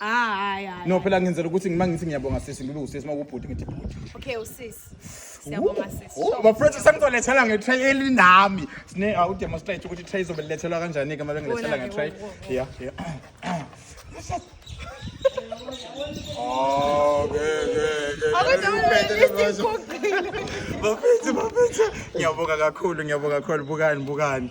Ah, hayi hayi. No phela ngenzela ukuthi ngima ngithi ngiyabonga sisi ngibe usisi makubhuti ngithi bhuti. Okay usisi. Siyabonga sisi. Oh, ba friends sangizolethela nge tray elinami. Sine awu demonstrate ukuthi tray izobelethelwa kanjani ke manje ngilethela nge tray. Yeah, yeah. Oh, good, good, good. Bafethu, bafethu. Ngiyabonga kakhulu, ngiyabonga kakhulu. Bukani, bukani.